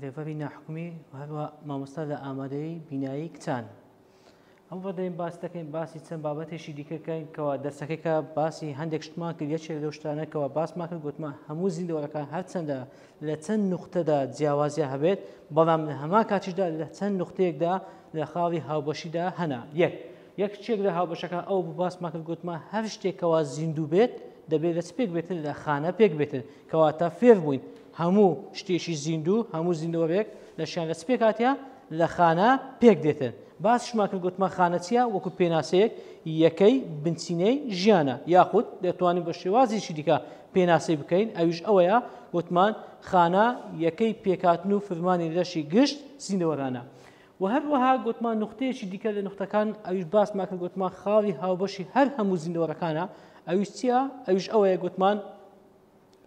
لێڤەری ناحکومی هەروە مامۆستا لە ئامادەی بینایی کچان ئەم ڕدەین باس دەکەین باسی چەند بابەتێکی دیکەکەین کەوا دەرسەکەیکە باسی هەندێک شتمان کرد یەکێ لەو شتانەکەەوە باسمان کرد گوتمە هەموو زیندەوەەکان هەرچەندە لە چەند نوختەدا جیاوازە هەبێت بەڵام لە هەما کاتیشدا لە چەند نقطەیەکدا لە خاڵی هاوبەشیدا هەنا یەک یەکێک لە هاوبەشەکان ئەو باسمان کرد گوتمان هەر شتێک کەوا زیندوو بێت دەبێت لە چ پێک بێتن لە خانە پێک بێتن کەواتە فێر بووین هەموو شتێکی زیندوو هەموو زیندوەرێک لە شان لە چ پێکاتە لە خانە پێک دێتن باسشمان کرد گوتمان خانە چیە وەکو پێناسەیەک یەکەی بنچینەی ژیانە یاخود دەتوانین بە شێوازیشی دیکە پێناسی بکەین ئەویش ئەوەیە وتمان خانە یەکەی پێکاتن و فرمانی لەشی گشت زیندەوەرانە وە هەروەها گۆتمان نوختەیەکی دیکە لە نوختەکان ئەویش باسمان کرد گۆتمان خاڵی هاوبەشی هەر هەموو زیندەوەرەکانە ئەویش چییە ئەویش ئەوەیە گۆتمان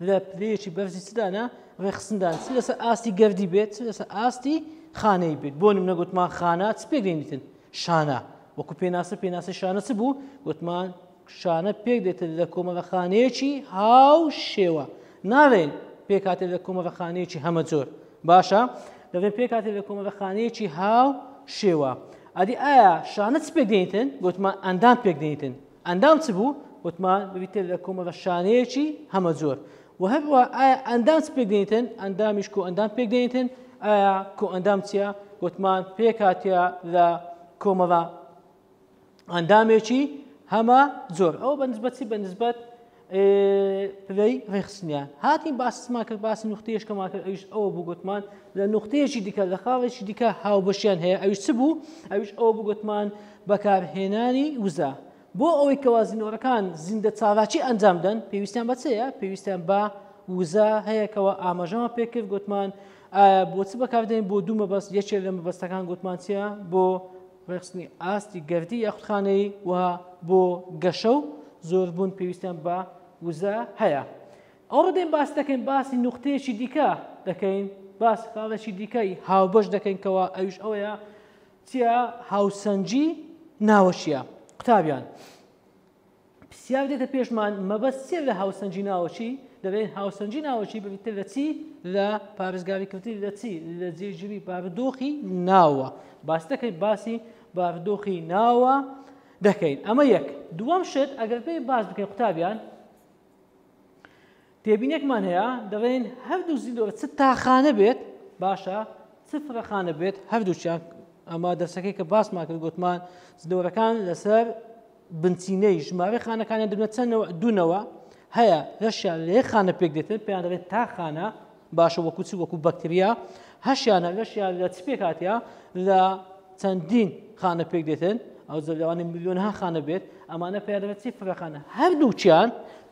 لە پلەیەکی بەرزی سدانە ڕێخستندان چ لەسەر ئاستی گردی بێت چ لەسەر ئاستی خانەی بێت بۆ نمونە گوتمان خانە چ پێگەینیتن شانە وەکو پێناسە پێناسە شانە چ بوو گوتمان کچانە پێک دێتن لە کۆمەڵەخانەیەکی هاو شێوە ناڵێن پێکاتێت لە کۆمەڵەخانەیەکی هەمە زۆر باشە دەڵێن پێکاتێت لە کۆمەڵەخانەیەکی هاو شێوە ئەدی ئایا شانە چ پێک دێنیتن گوتمان ئەندام پێک دێنیتن ئەندام چ بوو وتمان بریتێت لە کۆمەڵە شانەیەکی هەمە زۆر و هەروە ئایا ئەندام چ پێک دێنیتن ئەندامیش کۆ ئەندام پێک دێنیتن ئایا کۆ ئەندام چیە گوتمان پێکاتە لە کۆمەڵە ئەندامێکی هەمە زۆر ئەو بەنسبەتی بەنسبەت پلەی ڕێخستنیان هاتین باسمان کرد باسی نوختێشکەمان کرد ئەوش ئەوە بگوتمان لە نوختێکی دیکە لە خاڵێکی دیکە هاوبەشیان هەیە ئەوش چ بوو ئەوش ئەوە بگوتمان بەکارهێنانی وزە بۆ ئەوەی کەوازینەوەەکان زیندە چالاکی ئەنجام دەن پێویستیان بەچەیە پێویستیان بە وزە هەیەکەوە ئاماژەمان پێکرد گوتمان بۆچ بەکاردێن بۆ دوو مەبەست یەکێ لە مەبەستەکان گوتمانچە بۆ ڕێکخستنی ئاستی گەردی یاخودخانەیی و بۆ گەشە و زۆربوون پێویستیان بە وزە هەیە ئەو ڕدەین باس دەکەین باسی نوختەیەکی دیکە دەکەین باس خاڵێکی دیکەی هاوبەش دەکەینکەوە ئەوش ئەوەیە چیە هاوسەنگی ناوەشیە قوتابیان پرسیار دێتە پێشمان مەبەست چیە لە هاوسەنگی ناوەچی دەبێت هاوسەنگی ناوەچی ببیتە لە چی لە پارێزگاریکردی لە چی لە جێگیری بارودۆخی ناوە باس دەکەیت باسی بارودۆخی ناوە دەکەین ئەمە یەک دووەم شت ئەگەر پێی باس بکەین قوتابیان تێبینێکمان هەیە دەڵێن هەردوو زیندۆرە چ تاخانە بێت باشە چ فرەخانە بێت هەردووچیان ئەمە دەرسەکەی کە باسمان کرد گوتمان زدەورەکان لەسەر بنچینەی ژمارە خانەکانیان دەبێت چەندەوە دوونەوە هەیە لەشیان لە یەک خانە پێک دێتن پێیان دەڵێت تا خانە باشە وەکو چ وەکو بەکتریا هەشیانە لەشیان لە چ پێکاتیا لە چەندین خانە پێک دێتن ئەو زەلوانی میلیۆن ها خانە بێت ئەمانە پێدەێت چی فرەخانە هەردووچیان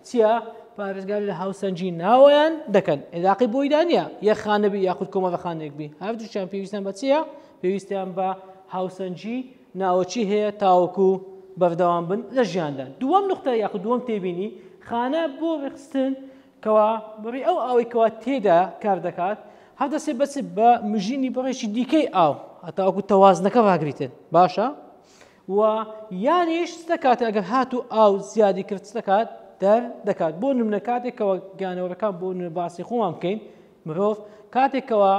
چیە پارێزگار لە هاوسەنگی ناوەیان دەکەن عێراقی بۆی دانە یەک خانەبی یاخود کۆمەڵە خانێک بی هەردووشیان پێویستیان بە چیە پێویستیان بە هاوسەنگی ناوەچی هەیە تاوەکو بەردەوام بن لە ژیاندا دووەم نقطە یاخود دووەم تێبینی خانە بۆ ڕێخستن کەوا بڕی ئەو ئەوەی کەوا تێدا کار دەکات هەردەسێ بەچ بە مژینی بڕێکی دیکەی ئاو هەتاوەکو تەوازنەکە ڕاگریتن باشە و یانیش چ دەکات ئەگەر هات و ئاو زیادی کرد چ دەکات دەر دەکات بۆ نمونە کاتێکەوە گیانەوەەکان بۆ نوێ باسی خۆمان بکەین مرۆڤ کاتێکەوە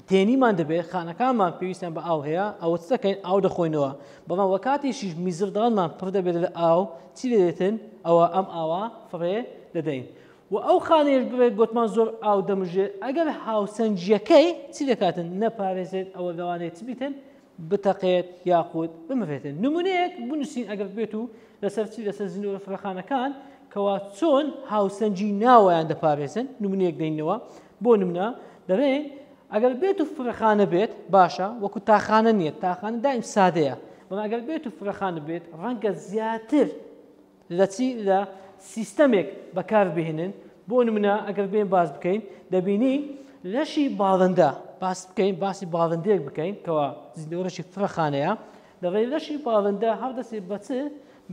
تێنیمان دەبێت خانەکانمان پێویستیان بە ئاو هەیە ئەوە چ دەکەین ئاو دەخۆینەوە بەڵام وە کاتیشیش میزردانمان پڕ دەبێت لە ئاو چی دەێتن ئەوە ئەم ئاوا فڕێ دەدەین و ئەو خانێش بڵێت گوتمان زۆر ئاو دەمژێت ئەگەر هاوسەنجیەکەی چی دەکاتن نەپارێزێت ئەوە لەوانێت چ بیتن بتەقێت یاخود بمرێتن نمونەیەک بنووسین ئەگەر بێت و لەسەر چی لەسەر زنۆرە فرەخانەکان کەوا چۆن هاوسەنگی ناوەیان دەپارێزن نمونەیەک دەینەوە بۆ نمونە دەڵێن ئەگەر بێت و فرەخانە بێت باشە وەکو تاخانە نییە تاخانە دایم سادەیە بەڵام ئەگەر بێت و فرەخانە بێت ڕەنگە زیاتر لە چی لە سیستەمێک بەکار بهێنن بۆ نمونە ئەگەر بێن باس بکەین دەبینی لەشی باڵندە باس بکەین باسی باڵندێک بکەین کەوا زیندەوەرەشی فڕەخانەیە دەڵێ لەشی باڵندە هەردەسێ بەچ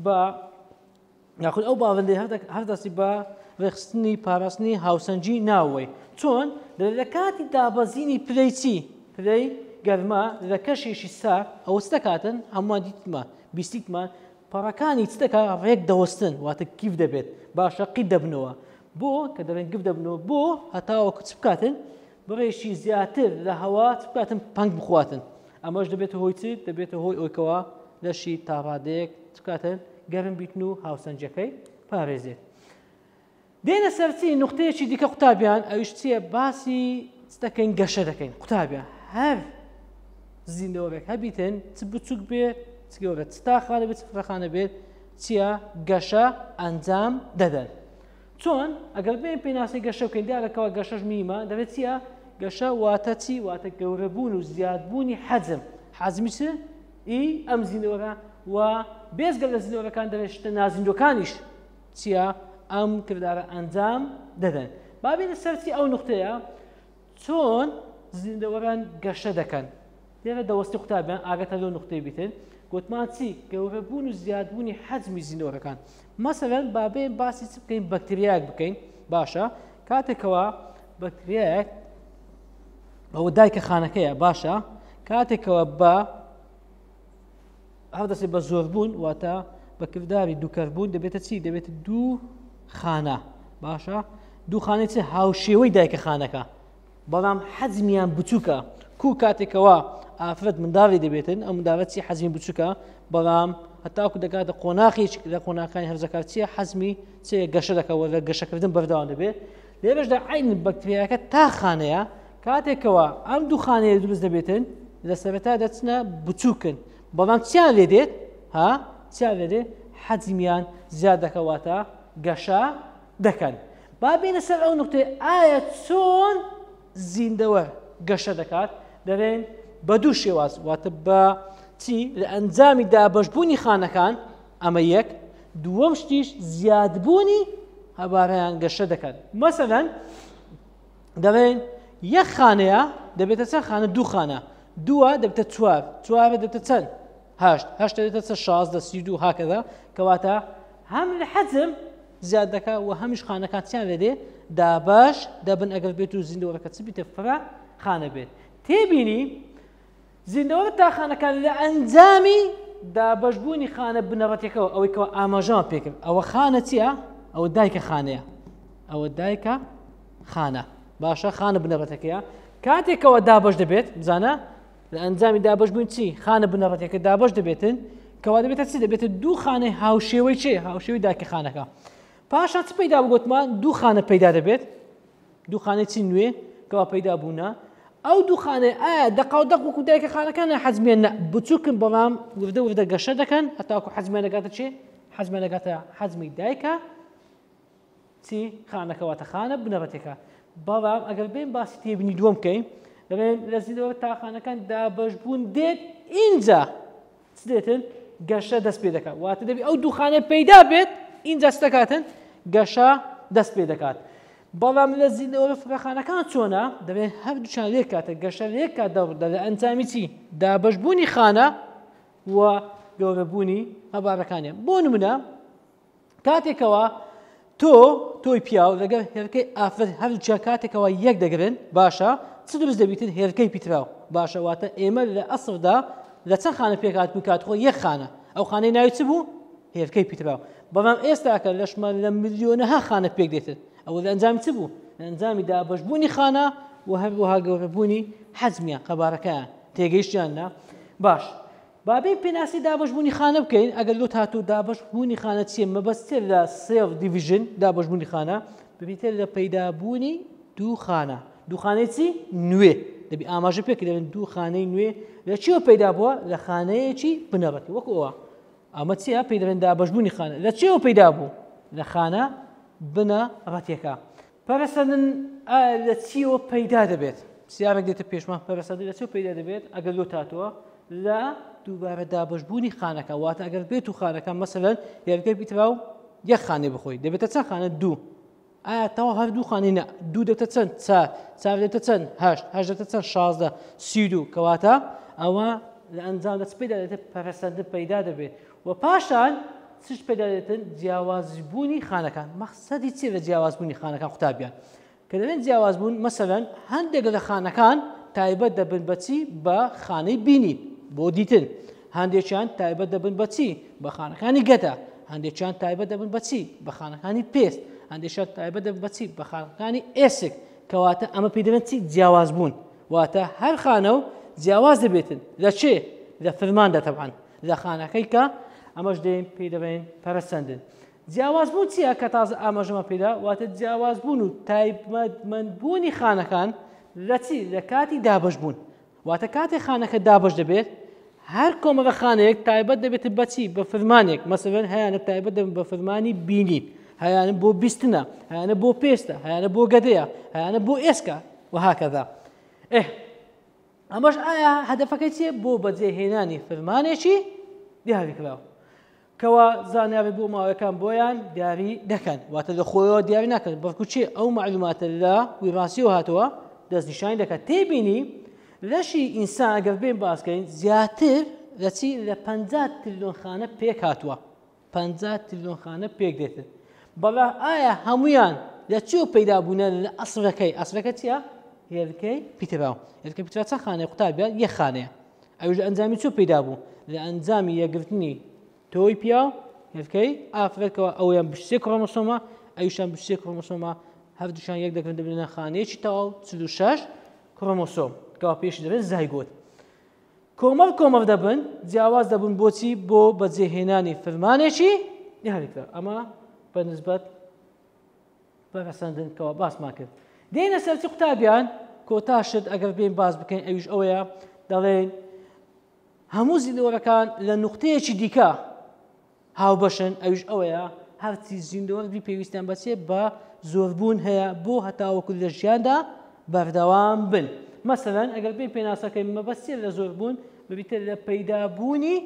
بە یاخود ئەو باڵندی هەردەسی بە ڕێخستنی پاراستنی هاوسەنجی ناوەی چۆن لە کاتی دابەزینی پلەی چی پلەی گەرما لە کەشێکی سا ئەوەستە کاتن هەمووان دیتمە بیستیتمان پەڕەکانی چ دەکا ڕێک دەوەستن واتە گیڤ دەبێت باشە قیت دەبنەوە بۆ کە دەڵێن گف دەبنەوە بۆ هەتاوە کچ بکاتن بڕێکی زیاتر لە هەوا بکاتن پنگ بخواتن ئەمەش دەبێت هۆی چ دەبێتە هۆی ئەوکەوە لەشی تاڕادەیەک بکاتن گەرم بیتن و هاوسەنجەکەی پارێزێت دێنە سەر چی نوختەیەکی دیکە قوتابیان ئەویش چییە باسی دەکەین گەشە دەکەین قوتابیان هەر زیندەوەێک هەبیتن چ بچووک بێت چگەورە چ تاخانە بێت فرەخانە بێت چییە گەشە ئەنجام دەدەن چۆن ئەگەر بێن پێناسی گەشە بکەین دیارەکەەوە گەشەش میمە دەبێت چییە گەشە واتە چی واتە گەورەبوون و زیادبوونی حەزم حەزمی چ ئی ئەم زیندەوەەکە و بێزگە لە زیندەوەەکان دەبێت شتە نازیندەکانیش چییە ئەم کردارە ئەنجام دەدەن. با بێینە سەر چی ئەو نوختەیە چۆن زیندەوەران گەشە دەکەن لێرە دەوەستی قوتابیان ئاگەتە لەو نوختەی بیتن گوتمان چی گەورەبوون و زیادبوونی حەجمی زیندەوەرەکان مەسەرەن با بێن باسی چ بکەین بەکتریاک بکەین باشە کاتێکەوە بەکتریاک ئەوە دایکە خانەکەیە باشە کاتێکەوە بە هەڵدەسێ بە زۆربوون واتە بە کردداری دووکەربوون دەبێتە چی دەبێت دوو خانە باشە دوو خانەی چ هاوشێوەی دایکە خانەکە بەڵام حەزمیان بچووکە کو کاتێکەوە ئافرەت منداڵی دەبێتن ئەم منداڵەت چی حەزمی بچووکە بەڵام هەتاکو دەکاتە قۆناخیش لە قۆناکانی هەرزەکار چیە حەزمی چێ گەشە دەکەەوە لە گەشەکردن بەرداوام دەبێت لێرەشدا عین بەکتریاکە تا خانەیە کاتێکەوە ئەم دوو خانەیە دروست دەبێتن لە سەرەتا دەچنە بچووکن بەڵام چیان لێ دێت ها چیان لێ دێت حەجمیان زیاد دەکەواتە گەشە دەکەن با بینە سەر ئەو نقطەی ئایا چۆن زیندەوە گەشە دەکات دەڵێن بە دوو شێواز واتە بە چی لە ئەنجامی دابشبوونی خانەکان ئەمە یەک، دووەم شتیش زیادبوونی هەبارەیان گەشە دەکات مەسەلەن دەڵێن یەک خانەیە دەبێتە چەند خانە دوو خانە دووە دەبتە چوار چوارە دەبتە چەند هەشت هەشت دەبێتە چە شازدە سی دوو هاکەدا کەواتە هەم لە حەزم زیاد دەکات و هەمیش خانەکانتیان لە دێ دابش دەبن ئەگەر بێت و زیندەوەەکە چ بیتە فرە خانە بێت تێبینی زیندەوە لە تاقانەکان لە ئەنجامی دابەشبوونی خانە بنەڕەتەکەەوە ئەوەی کەەوە ئاماژەوان پێکرد ئەوە خانە چییە ئەوە دایکە خانەیە ئەوە دایکە خانە باشە خانە بنەڕەتەکەیە کاتێکەوە دابش دەبێت بزانە لە ئەنجامی دابش بوون چی خانە بنەڕەتەکە دابش دەبێتن کەوا دەبێتە چی دەبێتە دوو خانەی هاوشێوەی چێ هاوشێوی داکە خانەکە پاشان چ پەیدا بگوتمان دوو خانە پەیدا دەبێت دوخانەی چی نوێ کەوا پەیدا بوونە ئەو دوخانەی ئایا دەقاو دەق وەکو دایکە خانەکانە حەزمیان بچووکن بەڵام وردە وردە گەشە دەکەن هەتاکو حەزمیان دەگاتە چێ حەزمیان دەگاتە حەزمی دایکە چی خانەکەواتە خانە بنەڕەتێکە بەڵام ئەگەر بێن باسی تێبنی دووەم بکەین دەڵێن لە زیندەوە تاخانەکان دابەش بوون دێت ئینجا چ دێتن گەشە دەست پێ دەکات واتە دەبی ئەو دوخانە پەیدا بێت ئینجا چ دەکاتن گەشە دەست پێ دەکات بەڵام لە زیندەوە فراخانەکان چۆنە دەبێت هەر دوچان لێک کاتە گەشە لێک کات دەڕدا لە ئەنجامی چی دابشبوونی خانە و گەورەبوونی هەبارەکانیان بۆ نمونە کاتێکەوە تۆ تۆی پیاو لەگەر هێرکەی ئافر هەرچە کاتێکەوە یەک دەگرن باشە چ دروست دەبیتر هێرکەی پیتراو باشە واتە ئێمە لە ئەسردا لە چەند خانە پێکات بوو کات خۆ یەک خانە ئەو خانەی ناوی چ بوو هێرکەی پیتراو بەڵام ئێستاکە لەشمان لە ملیۆنەها خانە پێک دێتن ئەوە لە ئەنجام چ بوو لە ئەنجامی دابشبوونی خانە و هەروەها گەورەبوونی حەزمیان قەبارەکەیان تێگەیشتیاننا باش با بێین پێناسی دابەش بوونی خانە بکەین ئەگەر لۆت هاتوو دابەش بوونی خانە چیە مەبەستێ لە سێڵ دیڤژن دابەش بوونی خانە ببیتە لە پەیدابوونی دوو خانە دوخانەی چی نوێ دەبی ئاماژە پێکرێن دوو خانەی نوێ لە چیەوە پەیدا بووە لە خانەیەکی بنەڕەتی وەکەوە ئەمە چیە پێی دەێن دابشبوونی خانە لە چێوە پەیدا بوو لە خانە بنە ڕەتەکە پەرەسەندن لە چیەوە پەیدا دەبێت سیارێک دێتە پێشمان پەرەسەندن لە چێ پەیدا دەبێت ئەگەر لۆ تاتوە لە دووبارە دابشبوونی خانەکە واتە ئەگەر بێت و خانەکە مەسەلەن یارگەر بیترا و یەک خانێ بخۆی دەبێتە چەند خانە دوو ئاتەوە هەردوو خانی نە دوو دەتە چەند چار چار دەتە چەند هەشت هەشت دەتە چەند شازدە سی دوو کەواتە ئەوە لە ئەنجام دەست پێدا دێتە پەرەسەندن پەیدا دەبێت وە پاشان چش پێدادێتن جیاوازبوونی خانەکان مەخسەدی چی لە جیاوازبوونی خانەکان قوتابیان کە دەێن جیاوازبوون مەسەەن هەندێک لە خانەکان تایبەت دەبن بەچی بە خانەی بینی بۆ دیتن هەندێکیان تایبەت دەبن بەچی بە خانەکانی گەدە هەندێکیان تایبەت دەبن بەچی بە خانەکانی پێست هەندێکیان تایبەت دەبن بەچی بە خانەکانی ئێسک کەواتە ئەمە پێدەێن چی جیاوازبوون واتە هەر خانە و جیاواز دەبێتن لە چێ لە فرماندا تەبان لە خانەکەی کە ئەمەش دێن پێی دەبێن پەرسەندن جیاواز بوو چییە کە تازە ئاماژەمە پێدا واتە جیاواز بوون و تایبمەندبوونی خانەکان لە چی لە کاتی دابش بوون واتە کاتی خانەکە دابش دەبێت هەر کۆمەگە خانەیەک تایبەت دەبێت بەچی بە فرمانێک مەسەن هەیەە تایبەت دەبن بە فرمانی بینی هەیانە بۆ بیستنە هەیانە بۆ پێستە هەیانە بۆ گەدەیە هەیانە بۆ ئێسکە وهکەدا ئه ئەمەش ئایا هەدەفەکەی چیە بۆ بەجێهێنانی فرمانێکی دیاریکراو کەوا زانیاری بۆ ماوەکان بۆیان دیاری دەکەن واتە لە خۆیەوە دیاری ناکەن بەڵکو چێ ئەو معلوماتە لە ویڕاسیەوە هاتووە دەستنیشانی دەکات تێبینی لەشی ئینسان ئەگەر بێن باسکەین زیاتر لە چی لە پ تریلیۆن خانە پێک هاتووە پەنجا تریلیۆن خانە پێک دێتن بەڵا ئایا هەمویان لە چی و پەیدا بوونە لە ئەسلەکەی ئەسلەکە چیە هێلکەی پیتراو هێلکە پیترا چەند خانەیە قوتابیان یە خانەیە ئەوش لە ئەنجامی چۆ پەیدا بوو لە ئەنجامی یەگرتنی تۆی پیا و هێلکەی ئافرەتەوە ئەویان بشتێک کڕۆمەسۆمە ئەوشان بشتێک کڕۆمەسۆمە هەردووشان یەک دەکرن دەبنە خانەیەکی تەواو چ شش کڕۆمەسۆم کەوا پێش دەبێت زایگۆت کۆمەڵ کۆمەڵ دەبن جیاواز دەبن بۆچی بۆ بەجێهێنانی فرمانێکی دیاریکرا ئەمە بە نسبەت بەگەسەندن کەەوە باسمان کرد دێنە سەرچ قوتابیان کۆتا شت ئەگەر بێن باز بکەین ئەویش ئەوەیە دەڵێن هەموو زیندەوەرەکان لە نقطەیەکی دیکە هاوبەشن ئەویش ئەوەیە هەرچی زیندۆربی پێویستیان بەچێ بە زۆربوون هەیە بۆ هەتاوەکو لە ژیاندا بەردەوام بن مەسەرەن ئەگەر پێی پێناسەکەی مەبەستێ لە زۆربوون ببیتە لە پەیدابوونی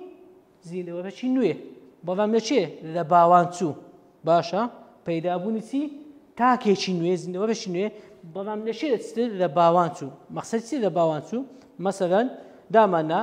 زیندەوەرەی نوێ بەڵام لە چێ لە باوان چوو باشە پەیدابوونی چی تاکێکی نوێ زیندەوەرەی نوێ بەڵام لە چێ لە باوان چوو مەخسەر چی لە باوان چوو مەسەرەن داماننا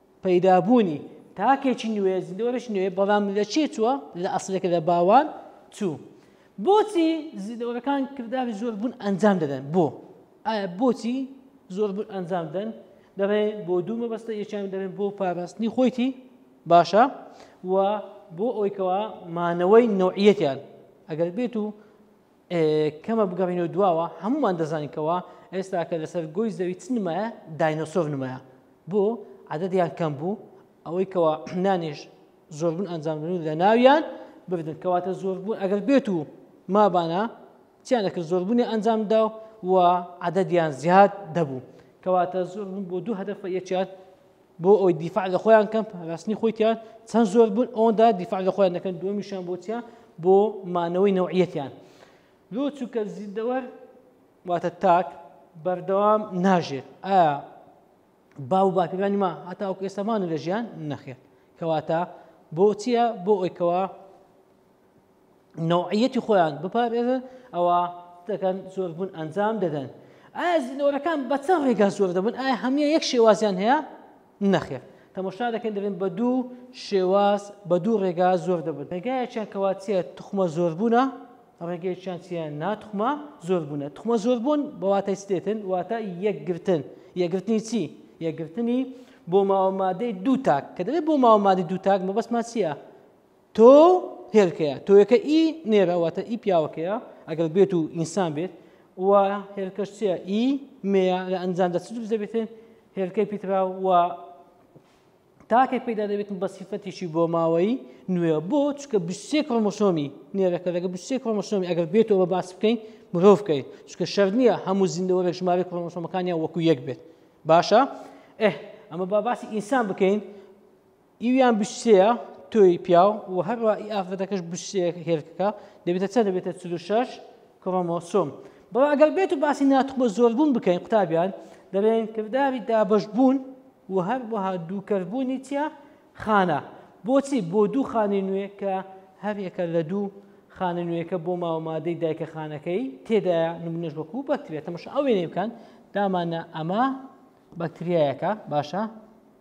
پەیدابوونی تاکێکی نوێ زیندەوەرێکی نوێ بەڵام لە چێ چووە لە ئەسلەکە لە باوان چوو بۆچی زیندەوەرەکان کرداری زۆر بوون ئەنجام دەدەن بۆ ئایا بۆچی زۆر بوون ئەنجام دەن دەڵێ بۆ دوو مەبەستە یەکیان دەبێن بۆ پاراستنی خۆیتی باشە و بۆ ئەویکەوە مانەوەی نوعیەتیان ئەگەر بێت و کەمە بگەڕینەوە دواوە هەمومان دەزانین کەەوە ئێستا کە لەسەر گۆی زەوی چ نمایە داینۆسۆف نمایە بۆ عادەتیان کەم بوو ئەوەی کەەوە نانێش زۆربوون ئەنجامدن لە ناویان ببدن کەواتە زۆربوون ئەگەر بێت و مابانە چیان دەکرد زۆربوونی ئەنجامدا و عادەتیان زیاد دەبوو کەواتە زۆربوون بۆ دوو هەدەفە یەکیان بۆ ئەوی دیفاع لە خۆیان کەم پاراستنی خۆیان چەند زۆر بوون ئەوەندا دیفاع لە خۆیان دەکەن دومیشان بۆچە بۆ مانەوەی نەوعەتیان لۆ چووکە زیندەوەر واتە تاک بەردەوام ناژێت ئایا با و باپیرانی ما هەتا ئەو ئێستامان لە ژیان نەخێت کەواتە بۆچیە بۆ ئەوکەوە نوعیەتی خۆیان بپارێزن ئەوە دەکەن زۆربوون ئەنجام دەدەن ئایا زیندەوەرەکان بە چەند ڕێگا زۆر دەبن ئایا هەموو یەک شێوازیان هەیە نەخێر تەمەشا دەکەن دەبن بە دوو شێواز بە دوو ڕێگا زۆر دەبن ڕێگایەکیان کەواتە تخمە زۆر بوونە ڕێگەیەکیان چیە ناتخمە زۆر بوونە تخمە زۆر بوون بەواتای سێتن واتە یەکگرتن یەگرتنی چی یەگرتنی بۆ ماوەمادەی دوو تاک کە دەبێت بۆ ماوەمادەی دوو تاک مەبەستمان چییە تۆ هێلکەیە تۆیەکە ئی نێرە واتە ئی پیاوەکەیە ئەگەر بێت و ئینسان بێت و هێلکەش چە ئی مێە لە ئەنجام دەچ دەبێتێن هێلکەی پیترا و تاکێک پیدا دەبێتن بە سیفەتیشی بۆ ماوەی نوێ بۆ چکە بسێ کڕمۆسۆمی نێرەکە لەگە بسێ کڕمۆسۆمی ئەگەر بێتەوە بە باس بکەین مرۆڤ بکەین چکە شەر نییە هەموو زیندەوە لە ژمارە کڕمۆسۆمەکانیان وەکو یەک بێت باشە ئه ئەمە با باسی ئینسان بکەین ئیویان بشتەیە تۆی پیاو و هەروە ئی ئافرەتەکەش بشتەیە هێلکەکە دەبێتە چەند دەبێتە 46 کڕۆمۆسۆم بەڵام ئەگەر بێت و باسی ناتوخمە زۆربوون بکەین قوتابیان دەڵێن کرداری دابەشبوون و هەروەها دووکەربوونی چیە خانە بۆچی بۆ دوو خانەی نوێ کە هەرێکە لە دوو خانە نوێەکە بۆ ماوەمادەی دایکە خانەکەی تێدایە نمونەش وەکو بەکترێت تەمەش ئەوێنێ بکەن دامانە ئەمە بەکتریایەکە باشە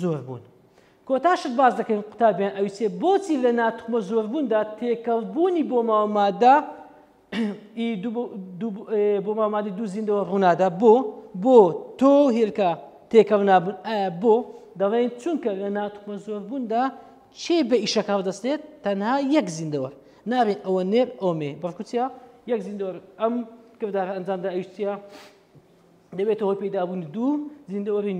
زۆر بوون کۆتا شت باس دەکەین قوتابیان ئەویسێ بۆچی لە ناتوخمە زۆر بووندا تێکەڵ بوونی بۆ ماوەمادا بۆ مامادی دوو زیندەوە ڕوونادا بۆ بۆ تۆ هێلکە تێکەڵ نابن ئایا بۆ دەڵێن چونکە لە ناتومە زۆر بووندا چێ بە ئیشەکە دەستێت تەنها یەک زیندەوە نابێت ئەوە نێر ئۆمێ بەڵکوچە یەک زیندۆر ئەم کردارە ئەنجامدا ئەوشتە دەبێتە هۆی پەیدابوون دوو زیندەوەری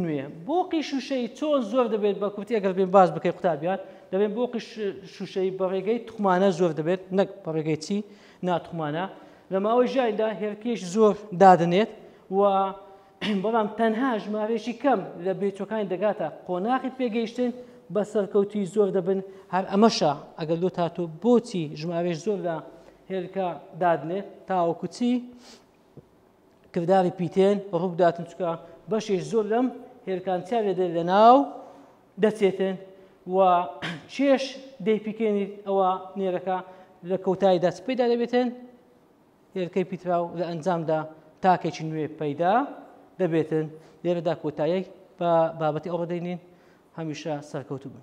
نوێ بۆقی شوشەی چۆن زۆر دەبێت بە کورتی ئەگەر بێن باز بکەی قوتابیان دەبێت بۆقی شوشەی بەڕێگەی تخمانە زۆر دەبێت نەک بەڕێگەی چی ناتخمانە لە ماوەی ژایدا هێرکیش زۆر دادنێت و بەڵام تەنها ژمارێکی کەم لە بێچەکانی دەگاتە قۆناخی پێگەیشتن بە سەرکەوتی زۆر دەبن هەر ئەمەشە ئەگەر لۆ تاتۆ بۆچی ژمارێش زۆر لە هێلکە دادنێت تاوەکوچی کرداری پیتێن ڕووبداتن چکە بەشێ زۆر لەم هێلکان چا لێدە لە ناو دەچێتن و چێش دەیپیکێنیت ئەوە نێرەکە لە کەوتاییدا چ پێدا دەبێتن هێلکەی پیترا و لە ئەنجامدا تاکێکی نوێ پەیدا دەبێتن لێرەدا کۆتایەک بە بابەتی ئەوڕدەینین هەمیشە سەرکەوتوبن